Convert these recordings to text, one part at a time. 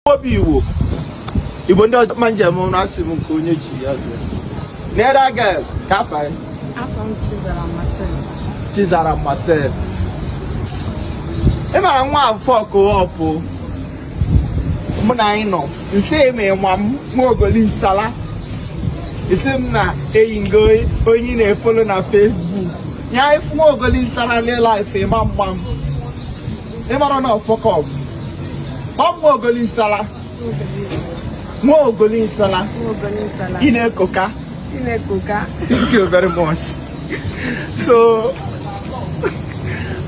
obi iwo igbo ndị ọjọọ ma njem ụra asị m nke onye ji ya zụọ n'ere aga ka afa ya Afa m Chizara Marcel. chizara marcel ị mara na ọ fuck up mụ na gị nọ nsị ma ị ma m nwa ogoli nsala ị sị m na eyi ngo onye ị na-efolo na Facebook ya ị fụ nwa ogoli nsala na life ị ma mgba m ị mara na ọ fuck up mụ nwa ogoli nsala nwa ogoli nsala ị na-ekoka thank you very much so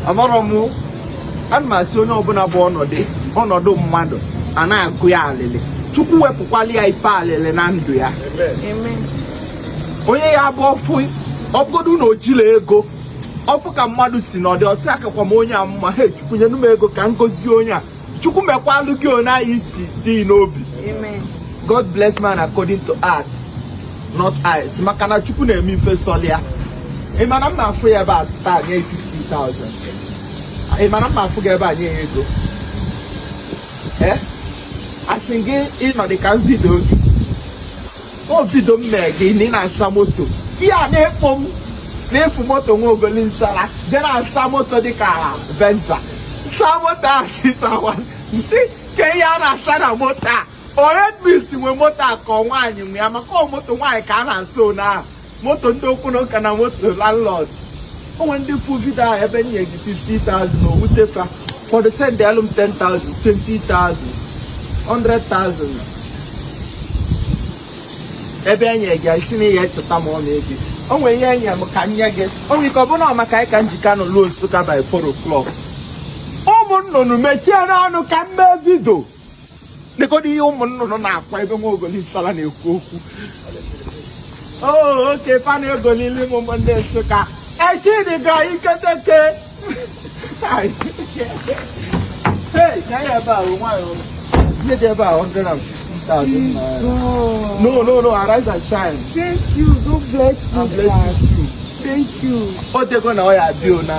amarọ m ana m asị onye ọbụna bụ ọnọdụ ọnọdụ mmadụ a na-agụ ya alịlị chukwu wepụkwalụ ya ife alịlị na ndụ ya onye ya bụ ọ fụ ọ bụgodu na o jirọ ego ọ fụ ka mmadụ si nọdị ọ sị akakwa m onye a mma he chukwu nyenu m ego ka m gozie onye a chukwu mekwalụ gị onye anyị si dị n'obi god bless man according to heart not height maka na chukwu na-eme ife sọlụ ya ị ma na m na-afụ ya ebe a taa nye 50,000 ị ma na m na-afụ gị ebe a nye ya ego eh? asị m gị nọdụ ka m video gị ọ video m mee gị na ị na-asa moto ihe a na-ekpo m na-efu moto nwa ogoli nsala je na-asa moto dịka venza sa moto asịsawa sị kee ihe a na-asa na moto a oredmis nwe moto a ka ọ nwaanyị nwe ya maka ọ moto nwaanyị ka a na-asa one ahụ moto ndị okwu na ụka na moto landlord o nwe ndị fụ video ahụ ebe m nye gị 50,000 o wute fa ụfọdụ send alụ m 10,000 20,000 100,000 ebe enye gị isi na ihe echeta ma ọ na-ege o nwere ihe e nye m ka m nye gị o nwere ike ọ bụ na maka gị ka m ji ka nọ luo Nsụka by 4 o'clock ụmụ nnụnụ mechienụ ọnụ ka m mee video nekodi ihe ụmụ nnụnụ na-akwa ebe nwa ogoli nsala na-ekwu okwu oh, oke fa na-egolili m ụmụ ndị nsụka echi dị ga iketeke ihe dị ebe a 150,000 no no no arise and shine thank you god bless you thank you o dego na ọ ya bio na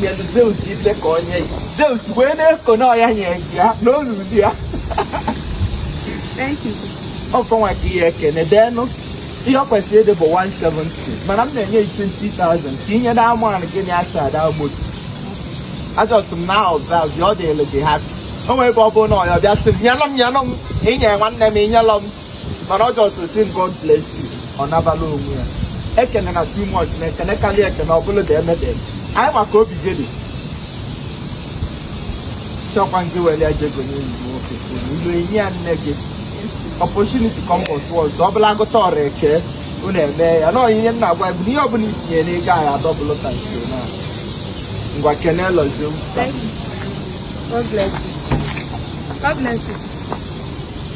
nyelu Zeus ife ka o nye ya Zeus wee na-eko na ọya nye ya na olulu ya ọfọnwa ka ihe ekene deenụ ihe ọ kwesịrị ịdị bụ 170 mana m na-enye 20,000 ka i nye na amanụ gị na asa ada ogbodo ajọs m na ọzọ azụ ọ dịlụ gị ha o nwere ebe ọ bụrụ na ọya bịa sị m nyelụ m nyelụ m i nye nwanne m i nyelụ m mana ọ just sị m God bless you ọ nabala onwe ya ekene na too much na ekene karịa ekene ọbụla da emede anyị maka obi gịnị chọkwa ndị were ya jego n'enyi nwoke ilu enyi ya nne gị opportunity come but once ọ bụla agụta ọrụ eke unu eme ya na ihe m na-agwa ya bụ ihe ọbụla i tinye n'ego anyị a-double ka nso na ngwa kenelụzie God bless you. God bless you.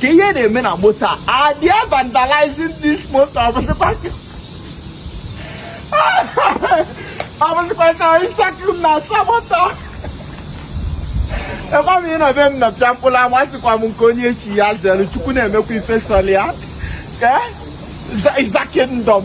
ka ihe na-eme na moto a they are vandalizing this moto ọ bụsịkwa ọ bụsịkwa sọ ịsakụ m na-asa moto ekwa m ịnọ be m nọ pịa mkpụrụ ama sịkwa m nke onye chi ya zere chukwu na-emekwa ife sọlụ ya is a kingdom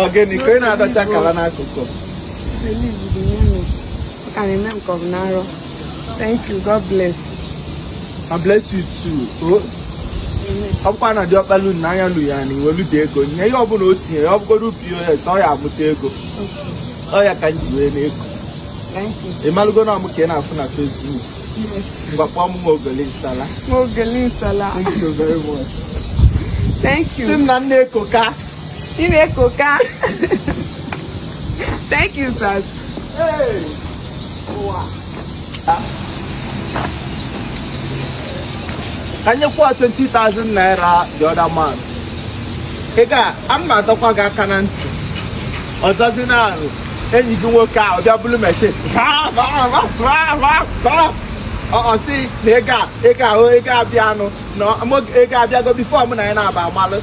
Ọ gịnị ka ị na-adọcha akala n'akụkụ. Ka na-eme nke ọ bụ n'arọ. Thank you, God bless. I bless you too. Oh. ọ bụkwa na diọkpalu na anya lu ya na i weludu ego nye ihe ọbụla o tinye ya ọ bụgodu POS ọ ya amụta ego ọ ya ka m ji wee na-eko ị malụgo na ọ mụ ka ị na-afụ na Facebook mgbakpọ m nwa ogoli nsala nwa ogoli nsala thank you very much thank you sị m na m na-ekoka ị na-ekoka thank you sir anyekwa 20,000 naira the other man ego a m adọkwa gị aka na ntị ọzọzi na arụ enyi gị nwoke a ọbịa bụrụ meshin ọ sị na ego a ego ahụ ego abịa a nụ na ego abịago before mụ na ya na-aba amalụ